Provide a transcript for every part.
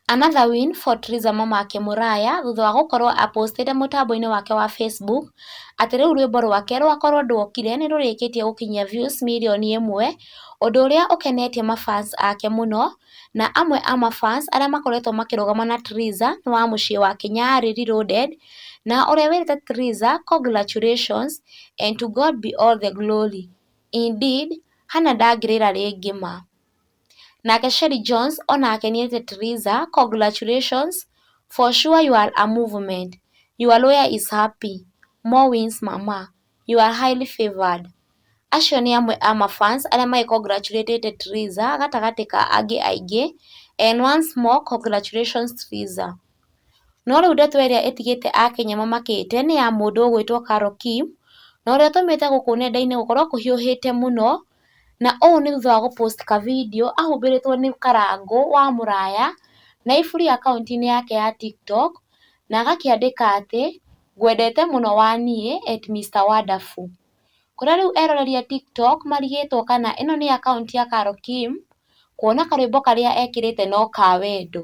Another win for Triza Mamake Mũraya thutha wa gũkorwo a postĩte mũtambo-inĩ wake wa Facebook atĩ rĩu rwĩmbo rwake rwa Korwo Nduokire nĩrũrĩkĩtie gũkinyia views mirioni ĩmwe, ũndũ ũrĩa ũkenetie ma fans ake mũno, na amwe a ma fans arĩa makoretwo makĩrũgama na Triza nĩ wa mũciĩ wa Kĩnyarĩ reloaded na ũrĩa wĩrĩte Triza congratulations and to God be all the glory, indeed Hannah ndangĩrĩra rĩngĩ ma. Nake Sherry Jones o nake nĩ eete Theresa, Congratulations, for sure you are a movement, your lawyer is happy, more wins mama, you are highly favoured. Acio nĩ amwe a ma fans arĩa magĩ congratulate te Theresa gatagatĩ ka angĩ aingĩ and once more congratulations Theresa. No rĩu ndeto ĩrĩa ĩtigĩte Akenya mamakĩte nĩ ya mũndũ ũgwĩtwo Carol Kim, na ũrĩa ũtũmĩte gũkũ nenda-inĩ gũkorwo kũhiũhĩte mũno. na ũũ nĩ thutha wa gũ post ka video ahumbĩrĩtwo nĩ karango wa mũraya na iburi akaunti-inĩ yake ya TikTok na agakĩandĩka atĩ ngwendete mũno wa niĩ at Mister Wonderful. Kũrĩa rĩu eroreri a TikTok marigĩtwo kana ĩno nĩ akaunti ya Carol Kim kuona karwĩmbo karĩa ekĩrĩte no ka wendo.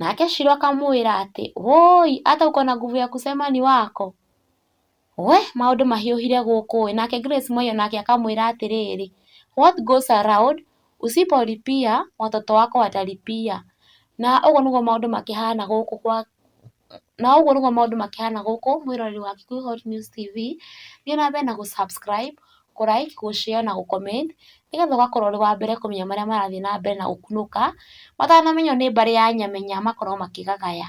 Nake Shilo akamwĩra atĩ, Wũi, ata uko na nguvu ya kusema ni wako? We, maũndũ mahiũhire gũkũ ĩ! Nake Grace Moi o nake akamwĩra atĩrĩrĩ, What goes around, usipolipia, watoto wako watalipia. Na ũguo nĩguo maũndũ makĩhana gũkũ gwa, na ũguo nĩguo maũndũ makĩhana gũkũ mwĩroreri wa Kikuyu Hot News TV. Thiĩ na mbere na gũ subscribe, kũ like, kũ share na gũ comment nĩgetha ũgakorwo ũrĩ wa mbere kũmenya marĩa marathiĩ na mbere na gũkunũka, matanamenywo nĩ mbarĩ ya Nyamenya makorwo makĩgagaya.